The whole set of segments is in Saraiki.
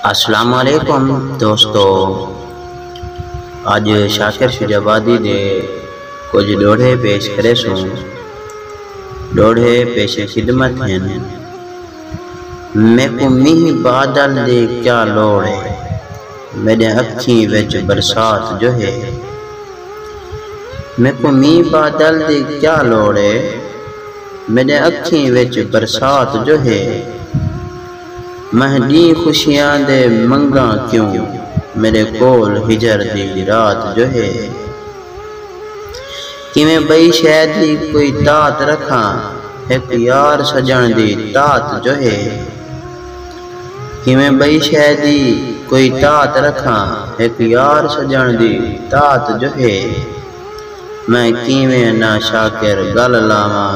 السلام علیکم دوستو اج شاکر شجاع آبادی دے کچھ ڈوہڑے پیش کرے سوں ڈوہڑے پیش خدمت ہیں میکو میہ بادل دی کیا لوڑ ہے میڈے اکھیں وچ برسات جو ہے میکو میہ بادل دی کیا لوڑ ہے میڈے اکھیں وچ برسات جو ہے مہہ ݙینہہ خوشیاں دے منگاں کیوں میݙے کول ہجر دی رات جو ہے کیویں ٻئی شے دی کوئی داد رکھاں ہک یار سڄݨ دی داد جو ہے کیویں ٻئی شے دی کوئی داد رکھاں ہک یار سڄݨ دی داد جو ہے میں کیویں نہ شاکر ڳل لاواں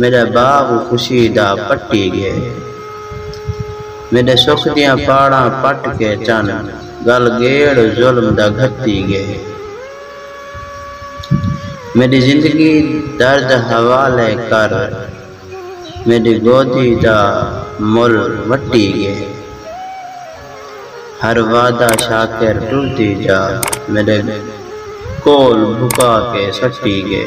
میݙا باغ خوشی دا پٹی ڳئے۔ میݙے سکھ دیاں پاڑاں پٹ کے چن ڳل ڳیڑ ظلم دا گھتی ڳئے۔ میݙی زندگی درد حوالے کر میݙی گودی دا مل وٹی ڳئے۔ ہر وعدہ شاکر ٹردی جا میݙے کول بھکا کے سٹی ڳئے۔